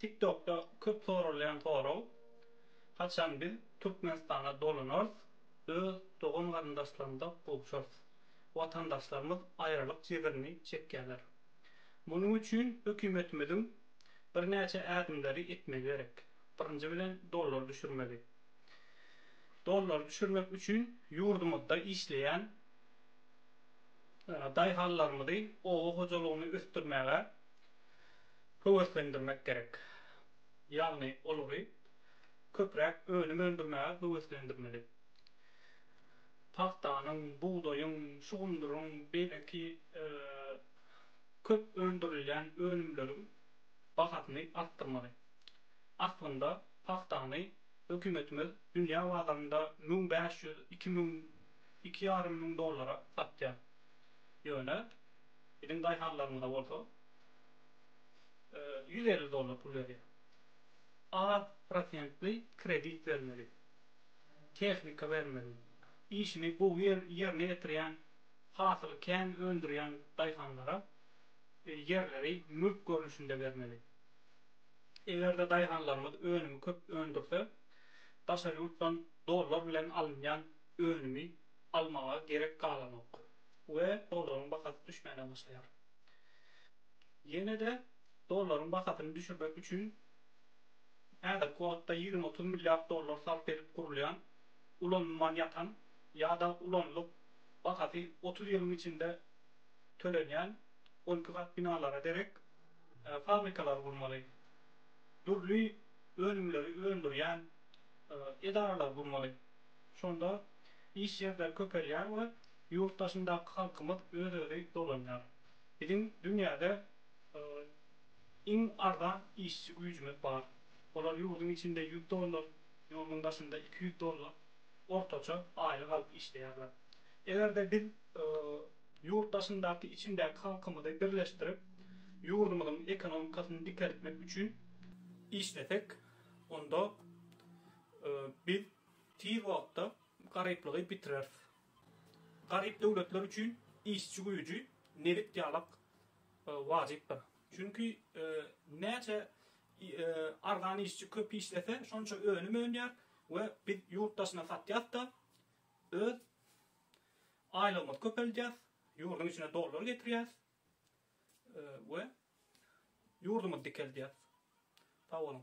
TikTokda köp soralýan sorag, Haçan biz Türkmenistana dolanarys, öz dogan-garyndaşlarymyza gowşarys? Watandaşlarymyz aýralyk jebrini çekýärler. Munuň üçin hökümetimiziň birnäçe ädimleri etmegi gerek. Birinji bilen dollary düşürmeli. Dollary düşürmek üçin ýurdumyzda işleýän daýhanlarymyzy oba hojalygyny ösdürmäge, höweslendirmek gerek. Ýagny olary köpräk önüm öndürmäge höweslendirmeli. Pagtanyň, bugdaýyň, şugundyryň, beýleki köp öndürilýän önümleriň bahasyny artdyrmaly. Aslynda pagtany hökümetimiz dünýä bazarynda müň bäş ýüz, iki müň, iki ýarym müň dollara satýar. Ýöne biziň daýhanlarymyza bolsa, ýüz elli dollar pul berýär. Az prosentli kredit bermeli. Tehnika bermeli. Işini gowy ýerine ýetirýän, hasyly kän öndürýän daýhanlara ýerleri mülk görnüşinde bermeli. Eger-de daýhanlarymyz önümi köp öndürse, daşary ýurtdan dollar bilen alynýan önümi almaga gerek galanok we dollaryň bahasy düşmäne başlaýar. Ýene-de dollaryň bahasyny düşürmek üçin häzirki wagtda ýigrimi-otuz milliard dollar sarp edip gurulýan, ulanylman ýatan ýa-da ulanylyp, bahasy otuz ýylyň içinde tölenýän on iki gat binalara derek fabrikalary gurmaly, dürli önümleri öndürýän edaralary gurmaly. Şonda iş ýerleri köpelýär we Ýurt daşyndaky halkymyz öz-özi dolanýar. Biziň dünýäde iň arzan işçi güýjümiz bar. Olar ýurduň içinde ýüz dollar, ýurduň daşynda iki ýüz dollar ortaça aýlyk alyp işleýärler. Eger-de biz ýurt daşyndaky içindäki halkymyzy birleşdirip, ýurdumyzyň ekonomikasyny dikeltmek üçin işlesek, onda biz tiz wagtda garyplygy bitireris. Garyp döwletler üçin işçi güýji nebit ýalak wajypdyr. Çünki näçe arzan işçi köp işlese, şonça önüm önýär we biz ýurt daşyna satýas-da, öz aýlygymyzy köpeldýäs, ýurduň içine dollar getirýäs we ýurdumyzy dikeldýäs. Sag boluň.